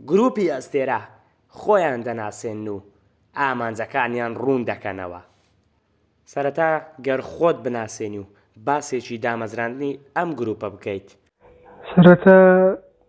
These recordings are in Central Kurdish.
گروپی ئەستێرە خۆیان دەناسێنن و ئامانجەکانیان ڕوون دەکەنەوە سەرەتا گەر خۆت بناسێنی و باسێکی دامەزراندنی ئەم گروپە بکەیت سەرەتا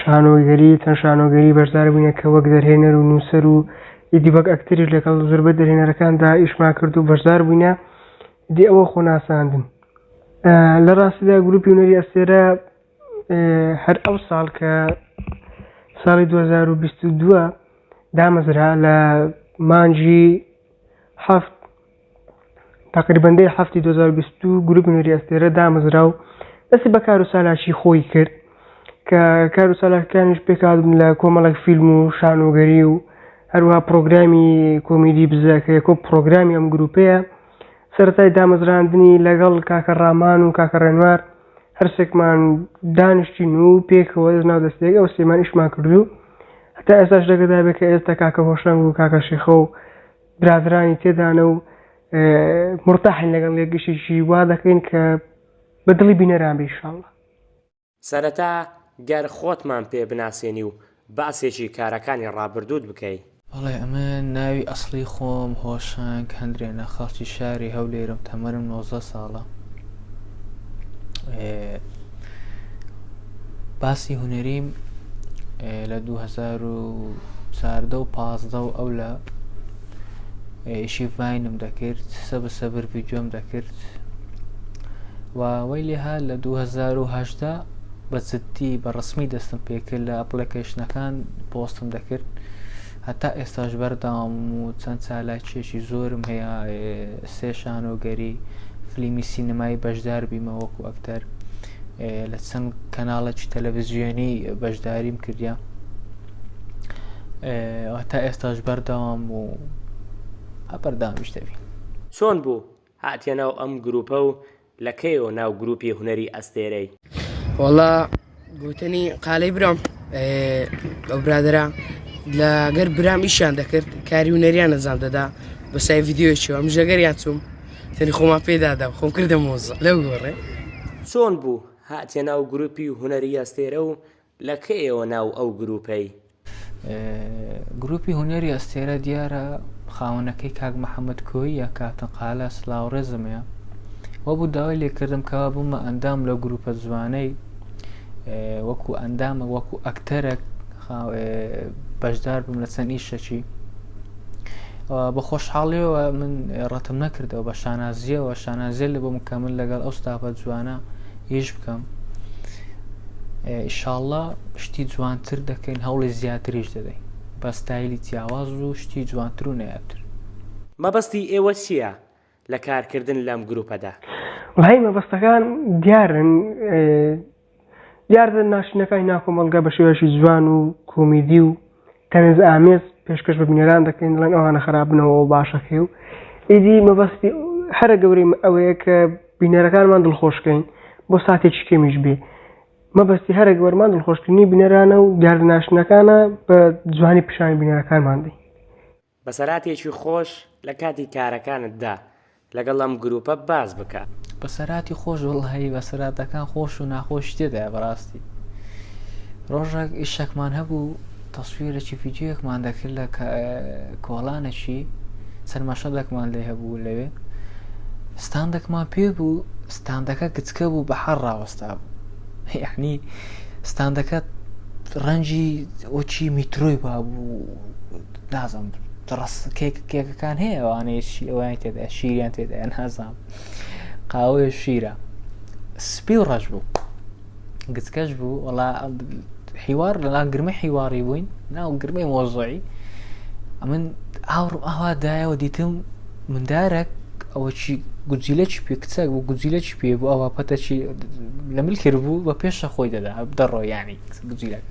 شانۆگەری، چەند شانۆگەری بەشدار بووینە کە وەک دەرهێنەر و نووسەر و ئیدی وەک ئەکتەریش لەگەڵ زۆربەی دەرهێنەرەکاندا ئیشمان کرد و بەشدار بووینە، ئیدی ئەوە خۆ ناساندن. لە ڕاستیدا گروپی هونەری ئەستێرە هەر ئەو ساڵ کە ساڵی 2022 دامەزرا لە مانگی هەفت تەقریبەن دەی هەفتی 2022 گروپی نوری ئەستێرە دامەزرا و دەستی بە کار و سالاکی خۆی کرد کە کار و سالاکەکانیش پێکاتبوون لە کۆمەڵک فیلم و شانۆگەری و هەروها پرۆگرامی کۆمیدی بزە کە یەکۆ پرۆگرامی ئەم گروپەیە سەرای دامەزراندنی لەگەڵ کاکە ڕامان و کاکە ڕێنوار هەرسێکمان دانیشتین و پێکەوە ناو دەستێک ئەو سێمان ئیشمان کردو هەتا ئێستاش دەگەدابێت کە ئێستا کاکە هۆشەنگ و کاکە شێخە و برادەرانی تێدانە و مرتاحین لەگەڵ یەکیشی وا دەکەین کە بە دڵی بینەران بێ ئیشاڵڵا. سەرەتا گەر خۆتمان پێ بناسێنی و باسێکی کارەکانی ڕابردووت بکەی. بەڵێ ئەمن ناوی ئەسڵی خۆم هۆشەنگ هەندرێنە خەڵکی شاری هەولێرم تەمەنم نۆزدە ساڵە. باسی هونەریم لە 2014 و 15 و ئەو لە ئیشی ڤینم دەکرد سە بە سەبر ڤیددیۆم دەکرد و وی لێها لە 2010 بە جددی بە ڕسمی دەستم پێکرد لە ئەپلەکەشنەکان پۆستم دەکرد هەتا ئێستاش بەرداوام و چەند چالاکیەکی زۆرم هەیە سێشانۆگەری فلیمی سینەمایی بەشدار بیمە وەکو ئەکتەر لە چەند کەناڵێکی تەلەڤزیۆنی بەشداریم کردیا تا ئێستاش بەردەوام و ئەپەردامیش دەبین چۆن بوو هاتیە ناو ئەم گروپە و لە کەیەوە ناو گروپی هونەری ئەستێرەی وەڵا گوتنی قالەی برام ئەو برادرا لە گەر برام ئیشان دەکرد کاری و نەریان نەزان دەدا بەسای یددیوەوە ئەم ژەگەریان چوم سەری خۆمان پێ دادا و خۆم کردە مۆزە لەو گۆڕێ. چۆن بوو هاتیە ناو گروپی هونەری ئەستێرە و لە کەیەوە ناو ئەو گروپەی؟ گروپی هونەری ئەستێرە دیارە خاوەنەکەی کاک محەمەد کۆییە کاپتن قالە سلاو ڕێزم هەیە وەبوو داوای لێکردم کەوا بوومە ئەندام لە گروپە جوانەی وەکو ئەندامە وەکو ئەکتەرەک بەشدار بم لە چەند ئیشەکی بە خۆشحاڵیەوە من ڕەتم نەکردەوە بە شانازیەوە شانازیە لە بۆ مکەمل لەگەڵ ئەو ستاپە جوانە هیچ بکەم ئیشاءله شتی جوانتر دەکەین هەوڵی زیاتریش دەدەین بە ستایلی جیاواز و شتی جوانتر و نەیاتر مەبەستی ئێوە چییە؟ لە کارکردن لەم گروپەدا. بەهای مەبەستەکان دیارن، دیاردە ناشرینەکانی ناو کۆمەڵگە بە شێوەیەکی جوان و کۆمیدی و تەنزئامێز پێشکەش بە بینەران دەکرێن، دەڵێن ئەوانە خراپن و ئەوە باشە کەی و ئیدی مەبەستی هەرە گەورەی ئەوەیە کە بینەرەکانمان دڵخۆشکەین بۆ ساتێکی کەمیش بێ. مەبەستی هەرە گەورمان دڵخۆشکردنی بینەرانە و دیاردە ناشرینەکانە بە جوانی پیشانی بینەرەکانمان دەین. بەسەراتێکی خۆش لە کاتی کارەکانت دا لەگەڵ ئەم گروپە باس بکە. بەسەراتی خۆش وەڵاهی بەسەراتەکان خۆش و ناخۆشی تێدایە بەڕاستی ڕۆژەک ئیشەکمان هەبوو تەسویرێکی ڤیددیوەکمان دەکرد لە کۆڵانەکی چەند مەشەدەکمان لێ هەبوو لەوێ ستاندەکمان پێ بوو ستاندەکە گچکە بوو بە حەڕ ڕاوەستا بوو یعنی ستاندەکە ڕەنجی ئۆچی میترۆی بابوو نازانم دڕس کێک کێکەکان هەیە ئەوانەیە شی ئەویان تێدا شیریان تێدا نازانم قاوەیە شیرە سپی و ڕەش بوو گچکەش بوو وڵا حیوار لەلا گرمە حیواری بووین ناو گرمەی مۆزۆی ئەمن ئاوڕم ئاوا دایەوە دیتم مندارەک ئەوە چی گوجیلە چی پێ کچەک بوو گوجیلە چی پێ بوو ئەوە پەتەچی لە مل کرد بوو بە پێشە خۆی دەدا دەڕۆ ینی گوجیلەکە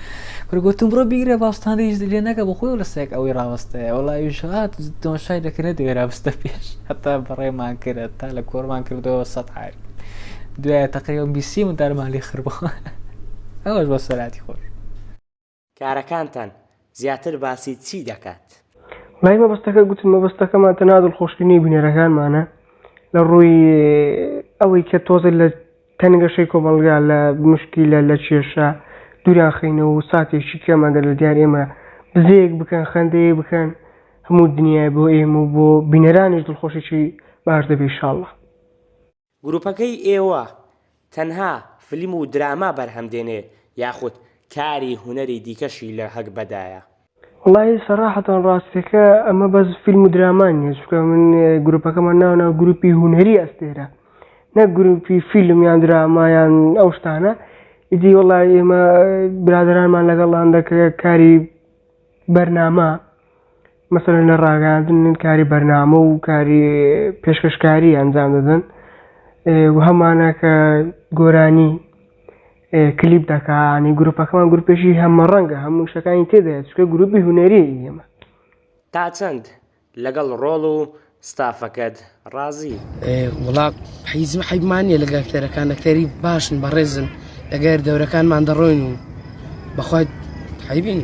کورە گوتم بڕۆ بیگرە با ستاندیش لێ نەکە بۆ خۆی لەسێک ئەوەی ڕاوەستەیە وڵاویش هات تۆشای دەکە نەدەوێت رابستە پێش هەتا بەڕێمان کرە تا لە کۆرمان کردەوە سەد حال دوایە تەقریەوە بیسی من دارمان لێ خربوو ئەوەش بۆ سەراتی خۆش کارەکانتان زیاتر باسی چی دەکات؟ لای مەبەستەکە گوتم مەبەستەکەمان تەنها دڵخۆشکردنی بینەرەکانمانە لە ڕووی ئەوەی کە تۆزێ لە تەنگەشەی کۆمەڵگا لە موشکیلە، لە کێشە دووریان خەینەوە و ساتێکی کەم ئەگەر لە دیار ئێمە بزەیەک بکەن، خەندەیەک بکەن، هەموو دنیای بۆ ئێمە و بۆ بینەرانیش دڵخۆشێکی باش دەبێ ئیشاڵڵا. گروپەکەی ئێوە تەنها فلیم و دراما بەرهەم دێنێ یاخود کاری هونەری دیکەشی لە هەگبەدایە؟ وەڵاهی سەڕاحەتان ڕاستەکە ئەمە بەس فیلم و دراما نییە چونکە من گروپەکەمان ناوناوە گروپی هونەری ئەستێرە نەک گروپی فیلم یان دراما یان ئەو شتانە ئیدی وەڵای ئێمە برادرانمان لەگەڵان دەکرێت کاری بەرنامە مەسەرەن لە ڕاگەاندن کاری بەرنامە و کاری پێشکەشکاری ئەنجام دەدەن و هەمانە کە گۆرانی کلیپ دەکا ینی گروپەکەمان گروپێکی هەمەڕەنگە هەموو شتەکانی تێدایە چکە گروپی هونەریە ئێمە. تاچەند لەگەڵ ڕۆڵ و ستافەکەت ڕازی؟ وڵا حیز و حیبمان نیە لەگە ئەکتەرەکان ئەکتەری باشن بەڕێزن لەگەر دەورەکانمان دەڕۆین و بەخوای حیبین.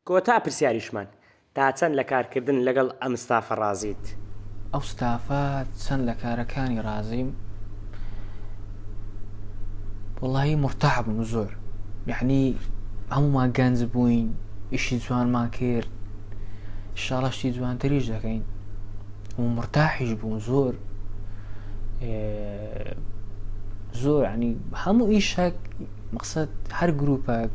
کۆتا پرسیاریشمان، تا چەند لە کارکردن لەگەڵ ئەم ستافە ڕازیت؟ ئەو ستافە چەند لە کارەکانی ڕازیم؟ وەڵایی مورتاح بووم زۆر یعنی هەموومان گەنج بووین ئیشی جوانمان کرد شاڵەشتی جوانتریش دەکەین و مورتاحیش بوون زۆر زۆر ینی هەموو ئیشەک مەقسەد هەر گروپەک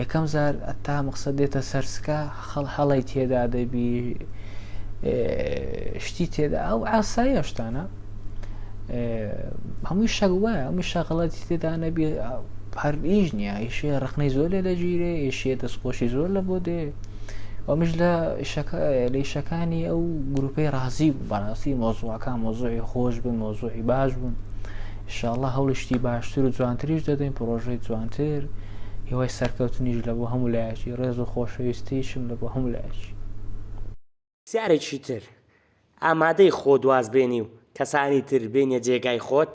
یەکەم زار ئەتا مەقسەد دێتە سەرسکە خەڵ هەڵی تێدا دەبی شتی تێدا ئەو ئاساییە شتانە هەمووی شەک وایە هەمووی شەغڵەتی تێدا نەبی هەر ئیش نییە ئیشێ ڕخنەی زۆر لێ دەگیرێ ئێشێ دەستخۆشی زۆر لە بۆ دێ ئەومش لە لە شەکانی ئەو گروپەی ڕازی بەڕاستی مۆزوعەکان مۆزوعی خۆش بن مۆزوعی باش بوون. ئیشاڵڵا هەوڵی شتی باشتر و جوانتریش دەدەین پرۆژەی جوانتر هیوای سەرکەوتنیش لە بۆ هەموو لایەکی ڕێز و خۆشەویستیشم لە بۆ هەموو لایەکی. جارێکی تر ئامادەی خۆت واز بێنی و کەسانی تر بێنیە جێگای خۆت؟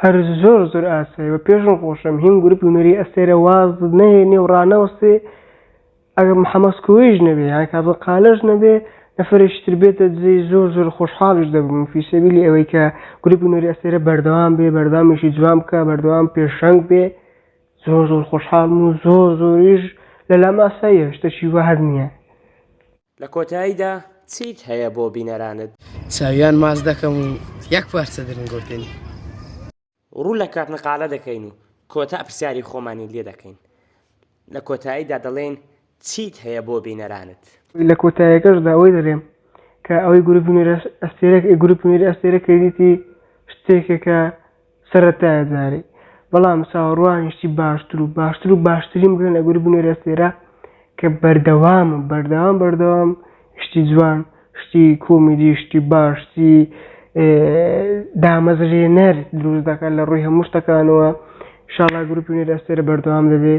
هەر زۆر زۆر ئاسایە بە پێشم خۆشم هیم گروپی هونەری ئەستێرە واز نەهێنێ و ڕانەوەستێ. ئەگەر محمد کۆیەیش نەبێ یان کازم قالەش نەبێ نەفەرێکی تر بێتە دزەی زۆر زۆر خۆشحاڵیش دەبم فی سەبیلی ئەوەی کە گروپی نوێری ئەستێرە بەردەوام بێ بەردەوامیشی جوان بکە بەردەوام پێشەنگ بێ زۆر زۆر خۆشحاڵم و زۆر زۆریش لەلام ئاساییە شتەکی وا هەر نییە. لە کۆتاییدا چیت هەیە بۆ بینەرانت؟ چاویان ماچ دەکەم و یەک پارچە درنگۆتێنی. ڕوو لە کاک نقالە دەکەین و کۆتا پرسیاری خۆمانی لێ دەکەین. لە کۆتاییدا دەڵێین چیت هەیە بۆ بینەرانت؟ لە کۆتاییەکەشدا ئەوەی دەلێم کە ئەوەی گروپ هونەری ئەستێرە گروپ هونەری ئەستێرە کردیتی شتێکێکە سەرەتایە جارێ بەڵام چاوەڕوانین شتی باشتر و باشتر و باشترین بکەن لە گروپ هونەری ئەستێرە کە بەردەوام بەردەوام بەردەوام شتی جوان شتی کۆمیدی شتی باش شتی دامەزرێنەر دروست دەکات لە ڕووی هەموو شتەکانەوە شاڵا گروپی نێر ئەستێرە بەردەوام دەبێ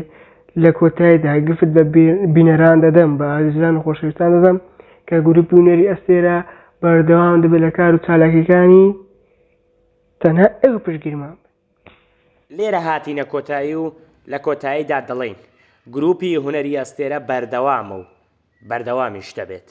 لە کۆتایدا گفت بە بینەران دەدەم بە ئازیزان و خۆشەویستان دەدەم کە گروپی و نێری ئەستێرە بەردەوام دەبێت لە کار و چالاکیەکانی تەنها ئێوە پشگیرمان لێرە هاتینە کۆتایی و لە کۆتاییدا دەڵێین، گرووپی هونەری ئەستێرە بەردەوامە و بەردەوامیش دەبێت.